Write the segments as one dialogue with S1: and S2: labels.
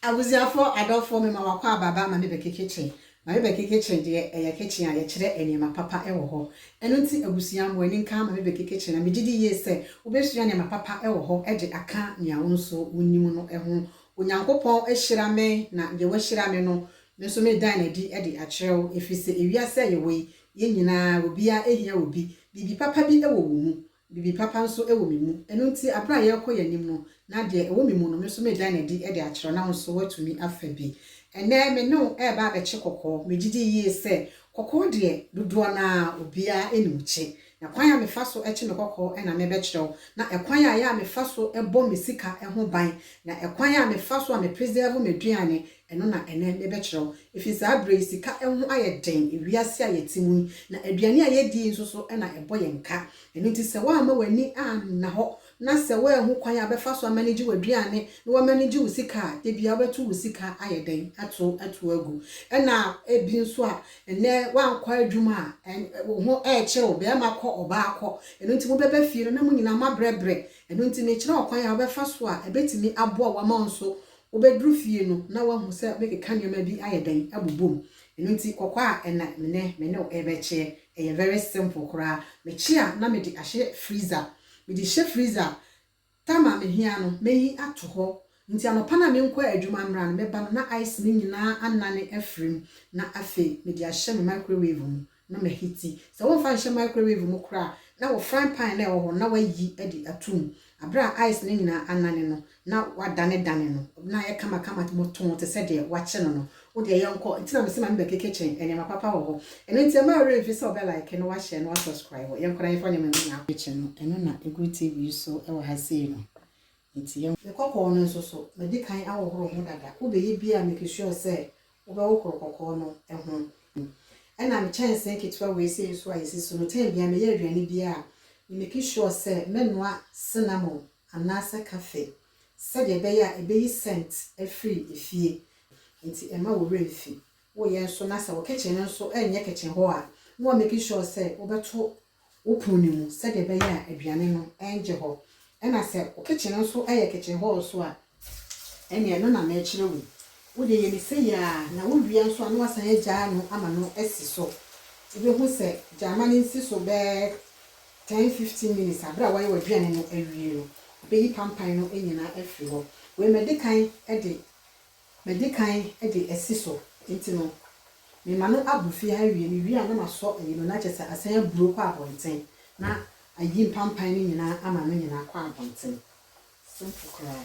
S1: Abusuafoɔ adɔfoɔ mema wakɔ aba aba ma me bɛke kitchen ma me bɛke kitchen deɛ ɛyɛ kitchen a yɛkyerɛ nneɛma papa wɔ hɔ ɛno nti abusua mo ani nka ma me bɛke kitchen na megye di yie sɛ wobɛsua nneɛma papa wɔ hɔ de aka nea wo nso wonim no ho Onyankopɔn ahyira me na deɛ wahyira me no me nso medan no adi de akyerɛ wo ɛfiri sɛ ewiase a yɛwɔ yi Yɛn nyinaa, obiara hia obi. Biribi papa bi wɔ wo mu. Biribi papa nso wɔ me mu. Ɛno nti, bere a yɛrekɔ yɛn anim no, na deɛ ɛwɔ me mu no, me nso meda no adi de akyerɛ wo, na wo nso woatumi afa bi. Ɛnnɛ, me ne wo reba abɛkye kɔkɔɔ. Megye di yie sɛ, kɔkɔɔ deɛ, dodoɔ no ara, obiara nim kye. Na kwan a mefa so kye me kɔkɔɔ na merebɛkyerɛ wo, na ɛkwan a ɛyɛ a mefa so bɔ me sika ho ban, na ɛkwan a mefa so a me preserve m'aduane Ɛno na ɛnnɛ mebɛkyerɛ wo. Ɛfiri saa berɛ yi, sika ho ayɛ den, wiase a yɛte mu yi, na aduane a yɛdi yi nso so na ɛbɔ yɛn ka. Ɛno nti, sɛ woamma w'ani anna hɔ, na sɛ woanhu kwan a wobɛfa so amanegye w'aduane na woamanegye wo sika a, da biara wobɛto wo sika ayɛ dɛn? ato ato agu. Ɛna ebi nso a, ɛnnɛ woankɔ adwuma a, ɛn, wo ho rekyere wo, barima kɔ, ɔbaa kɔ. Ɛno nti, mobɛba fie no na mo nyinaa moabrɛbrɛ. Ɛno nti, mekyerɛ wo kwan a wobɛfa so a, ɛbɛtumi aboa wo ama wo nso Wobɛduru fie no na woahu sɛ wobɛkeka nneɛma bi ayɛ dɛn abobɔ mu. Ɛno nti kɔkɔ a ɛnɛ menɛ me ne wo rebɛkyeɛ ɛyɛ very simple koraa. Mekye a na mede ahyɛ freezer. Mede hyɛ freezer a time a mehia no mɛyi ato hɔ. Nti anɔpa no a menkɔ adwuma mmra no meba no na ice no nyinaa anane afiri mu na afei mede ahyɛ me microwave mu na mahiti. Sɛ womfa nhyɛ microwave mu koraa a, na wo frying pan no a ɛwɔ hɔ no, na woayi de ato mu. Bere a ice no nyinaa anane no, na woadanedane no, na ayɛ kamakama too te sɛ deɛ wɔakye no no. Wo deɛ, yɛnkɔ. Enti na mese ma me ba Keke kyen, nneɛma papa wɔ hɔ. Ɛno nti, ɛmma wo werɛ mfi sɛ wobɛ like na woashare na woasubscribe. Yɛnkɔ na yɛmfa nneɛma no nyinaa nkɔ. Kye no, ɛno na ɛgu TV so wɔ ha sei no. Enti yɛnkɔ. Me kɔkɔɔ no nso so, madi kan ahohoro ho dada. Wobɛyɛ biara a, make sure sɛ Wobɛwo koro kɔkɔɔ no ho. Ɛnam kyɛnsee ketewa wei sei so a yɛsi so no, tɛn biara meyɛ aduane biara a, me make sure sɛ mɛnoa cinnamon anaasɛ kafe sɛdeɛ ɛbɛyɛ a ɛbɛyi scent afiri efie. Nti ɛmma wo werɛ mfi wo yɛ nso na sɛ wo kitchen no nso ɛnyɛ kitchen hɔ a, na woamake sure sɛ wobɛto wo pono no mu sɛdeɛ ɛbɛyɛ a aduane no rengye hɔ. Ɛna sɛ wo kitchen no nso yɛ kitchen hɔ nso a, ɛnneɛ ɛno na merekyerɛ wo yi. Wodeɛ yɛ no sei ara na wowie a nso a na woasan agyaa no ama no asi so. Wobɛhu sɛ gyama no nsi so bɛyɛ ten, fifteen minutes a, berɛ a woayɛ w'aduane no awie no, ɛbɛyi pampan no nyinaa afiri hɔ. Wei mede kan de Madi kan de asi so nti no, mema no abu fie ha awie. Mewie a na masɔ ayi no, na kyerɛ sɛ asan aburo kɔ abɔnten na ayi mpampan no nyinaa ama no nyinaa akɔ abɔnten. Simple koraa.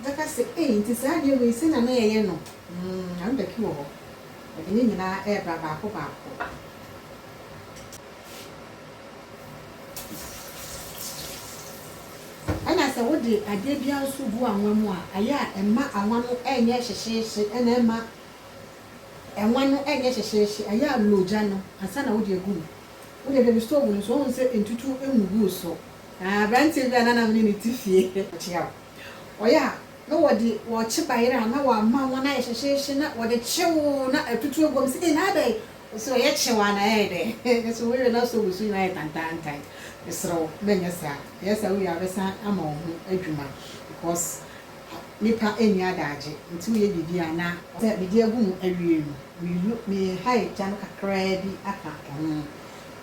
S1: Ɔbɛka sɛ, Ei, enti saa adeɛ wei, sɛdeɛ na na yɛyɛ no? Umm, Arubaki wɔ hɔ. Ɔde ne nyinaa rebra baako baako. Ɛna sɛ wode adeɛ biara nso gu anwa mu a, ayɛ a ɛmma anwa no nyɛ hyehyeehye, ɛna ɛmma ɛnwa no nyɛ hyehyeehye. Ayɛ a lɔ gya no ansa na wode agu mu. Wode aduane stove no nso, woahu sɛ ntutuo ngu gu so. Na aberanteɛ bi a na na me ne no te fie. Ɔkyea wo. Ɔyɛ a, na wɔde wɔkye bayerɛ a na wɔama wɔn ayɛ hyehyeehye na wɔde kye wo na atutu aguam. Mese, Ei, na ayɛ dɛn? Ɔse, Ɔyɛ kye wo a na ɛyɛ dɛn? Mese, Wowie no asɔ wo su nyinaa ayɛ tantaantan. Mesrɛ wo, mɛnyɛ saa. Yɛyɛ saa wie a, wobɛsan ama wo ho adwuma because nnipa nni adagye nti woyɛ biribi a na. Sɛ mede agu mu awie no, meyi me hair gya no kakraa bi aka ho.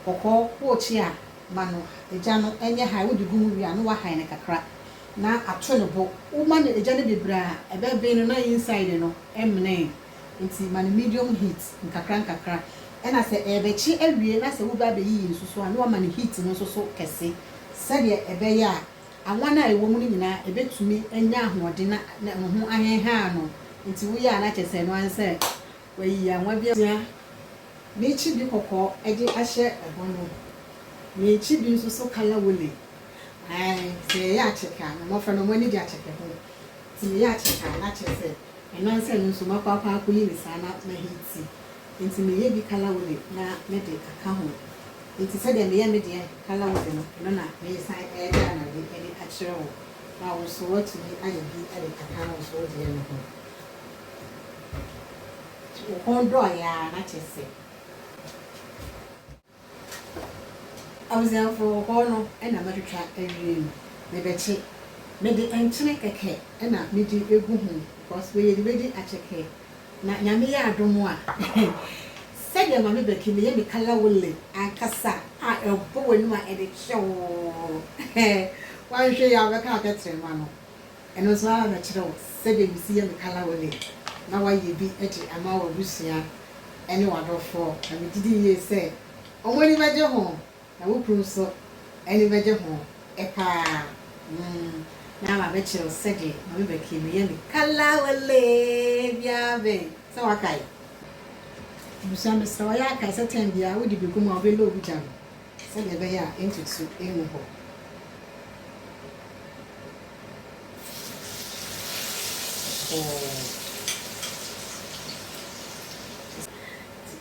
S1: Kɔkɔɔ, worekye a, Ma no egya no nyɛ hann. Wode gu mu wie a, na woahan no kakra na ato no bo. Woma no egya no bebree a, ɛbɛben no na inside no mmene. Enti ma no medium heat nkakrankakra. Ɛnna sɛ ɛrebɛkye awie na sɛ woreba abɛyiyi nsusuaa a, na woama no heat no nso so kɛse sɛdeɛ ɛbɛyɛ a awan a ɛwɔ mu no nyinaa ɛbɛtumi anya ahoɔden na ne ho ahenhan no. Enti woyɛ a na kyerɛ sɛ ɛno ara ne sɛ Wayi anwa bi asia ne kyibi kɔkɔɔ de ahyɛ ɛhɔ no, ne kyibi nso so kala wole. Aane, sɛ yɛyɛ akyɛkɛ a, na mmɔfra no, wɔn ani gye akyɛkɛ ho. Nti meyɛ akyɛkɛ a, na kyerɛ sɛ, anansɛ no nso, makɔ akɔ akɔyi ne saa na mahi ti. Nti meyɛ bi kala wole na mede aka ho. Nti sɛdeɛ meyɛ me deɛ kala wole no, ɛno na meresan reda no ade de akyerɛ wo, na wo nso woatumi ayɛ bi de aka wo so wo deɛ no ho. Wo kɔn dɔɔɛ ara na kyerɛ sɛ. Abusuafo wo kɔn no na matwitwa awie no me bɛkye me de nkyene kɛkɛ na me di egu ho because wei yɛde bɛdi akyɛkɛ na nyame yɛ adom a sɛdeɛ maame bɛki meyɛ me kala wole ankasa a ɛbɔ w'anim a ɛde kyeoo hɛɛ wanhwɛ yi a wobɛka atɛterɛma no. Ɛno nso ara na kyerɛw sɛdeɛ mesi yɛ me kalawele na wayɛ bi de ama w'abusua ne w'adɔfoɔ, na megye di yie sɛ wɔn ani bɛgye ho na wo kunu nso ani bɛgye ho pa ara. Mum na mabɛkyerɛw sɛdeɛ Maame Becky meyɛ me kalawele biara bɛn sɛ wakae? Abusua mesrɛ wo, ɔyɛ akae sɛ tɛn biara wode bɛgu mu a wobɛloogu gya no Sɛnea ɛbɛyɛ a ntutu ngu hɔ.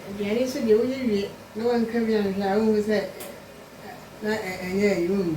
S1: Aduane nso deɛ woyɛ wie na wanka bi anhwɛ a wohu sɛ na ɛnyɛ ayi wo mu.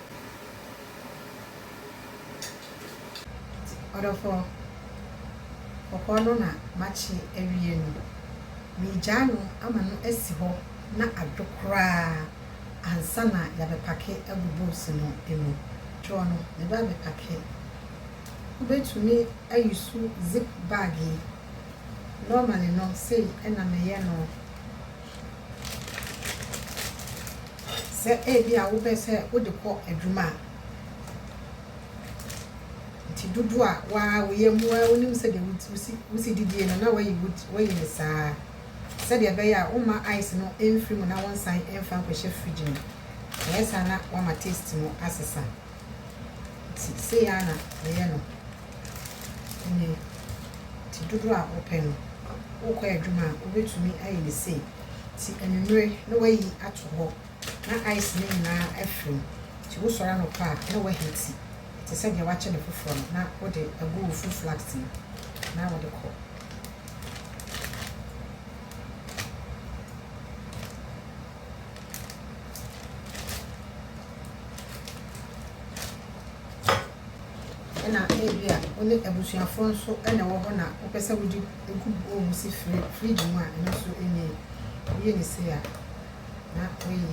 S1: Ɔdɔfoɔ, kɔkɔɔ no na makye awie no, meregyaa no ama no asi hɔ na adwo koraa ansa na yɛabɛpake agu boos no mu. Dwoɔ no, meba abɛpake. Wobɛtumi ayusu zip bag yi. Normally no, sei na meyɛ no. Sɛ ebia wopɛ sɛ wode kɔ adwuma a, nti dodoɔ a waa woyɛ mu ara wonim sɛdeɛ wosi wosi didie no na wayi wayi no saa sɛdeɛ ɛbɛyɛ a womma ice no mfiri mu na wonsan mfa nkɔhyɛ fridge mu. Ɛyɛ saa na wama taste no asesa. Nti sei ara na meyɛ no. Ɛnde nti dodoɔ a wopɛ no, wokɔ adwuma a, wobɛtumi ayɛ no sei. Nti anwummere na woayi ato hɔ na ice no nyinaa afirim. Nti wosɔre anɔpa a na woahiti te sɛ deɛ woakyɛ no foforɔ no na wode agu wo fruit flask mu na wode kɔ. ɛna ebi a wo ne abusuafoɔ nso na ɛwɔ hɔ na wopɛ sɛ wode nkubɔ mu si firi fridge mu a ɛno nso ɛnyɛ yi woyɛ ne sei a na woyi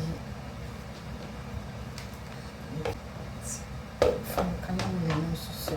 S1: kama mmienu nso so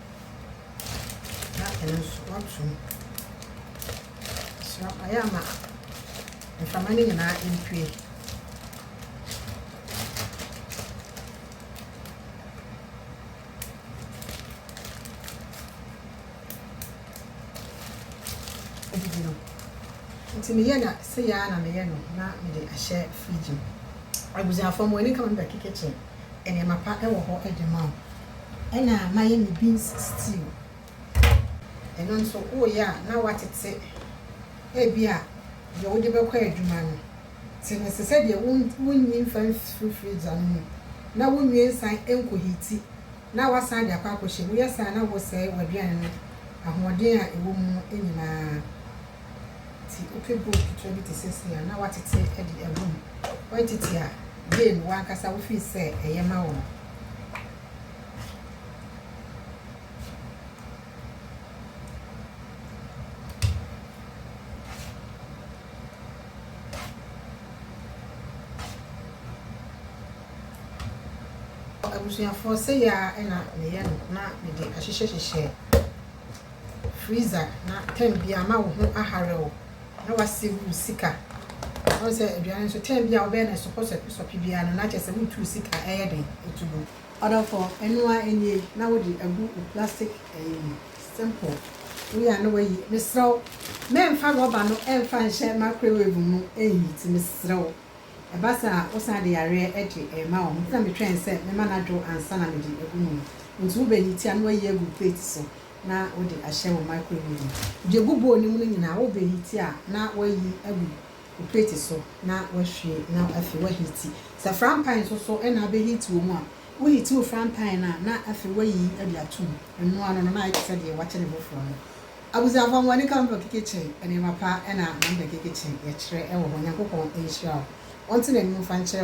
S1: na ɛno nso wato mu so ayɛ ama mframa no nyinaa mpue adidi no nti meyɛ na sɛ yɛa na meyɛ no na mede ahyɛ fridge mu abusuafoɔ mo ani kama mebɛkeke kyɛn nneɛma pa wɔ hɔ de ma wo. Ɛna mayɛ me beans stew. Ɛno nso woyɛ a na woatete ebia deɛ wode bɛkɔ adwuma no. Te no se sɛdeɛ wonyi mfa mfiri freezer no mu na wonwie nsan nkɔhiiti na woasan de akɔ akɔhyɛ mu. Woyɛ saa a na wosɛe w'aduane no ahoɔden a ɛwɔ mu no nyinaa. Nti wopɛ bowl ketewa bi te sɛ sei a na woatete de agu mu. Woantete a, yie no w'ankasa wo feel sɛ ɛyɛ ma wo no. Abusuafoɔ, sɛi ara na meyɛ no na mede ahyehyɛ hyehyɛ. freezer na time biara ama wo ho ahare wo na wa save wo sika ɔn sɛ aduane nso time biara wobɛyɛ no sɔpɔ sɔpe sɔpe biara no na kyerɛ sɛ wotu wo sika ɛyɛ den ɛtu gu. Ɔdɔfoɔ, ɛno ara ɛnie na wode agu wo plastic ɛyi mu simple woyɛ a na wayi, mesrɛ wo mɛnfa rubber no ɛnfa nhyɛ microwave mu ɛnheati mesrɛ wo. Ɛba saa a, wosan de yareɛ de rema wɔn. Enti na metwɛn sɛ mɛma no adwo ansa na mede agu mu. Enti wobɛyi ti a, na woayi agu plate so na wode ahyɛ wo microwave mu. Deɛ egu bowl no mu no nyinaa, wobɛyi ti a na woayi agu wo plate so na woahwie na afei woaheati. Sɛ frampan nso so na abɛheati wɔ mu a, woheati wo frampan no a na afei woayi de ato mu. Ɛno ano no, na ayɛ te sɛ deɛ woakyɛ no foforɔ no. Abusuafo Amonika Ɔmpɛ keke kyen nneɛma pa ɛna na mpɛ keke kyen yɛkyerɛ ɛwɔ hɔ Nyankopɔn nhyira wo Ɔnte n'anim mfa nkyerɛ wo.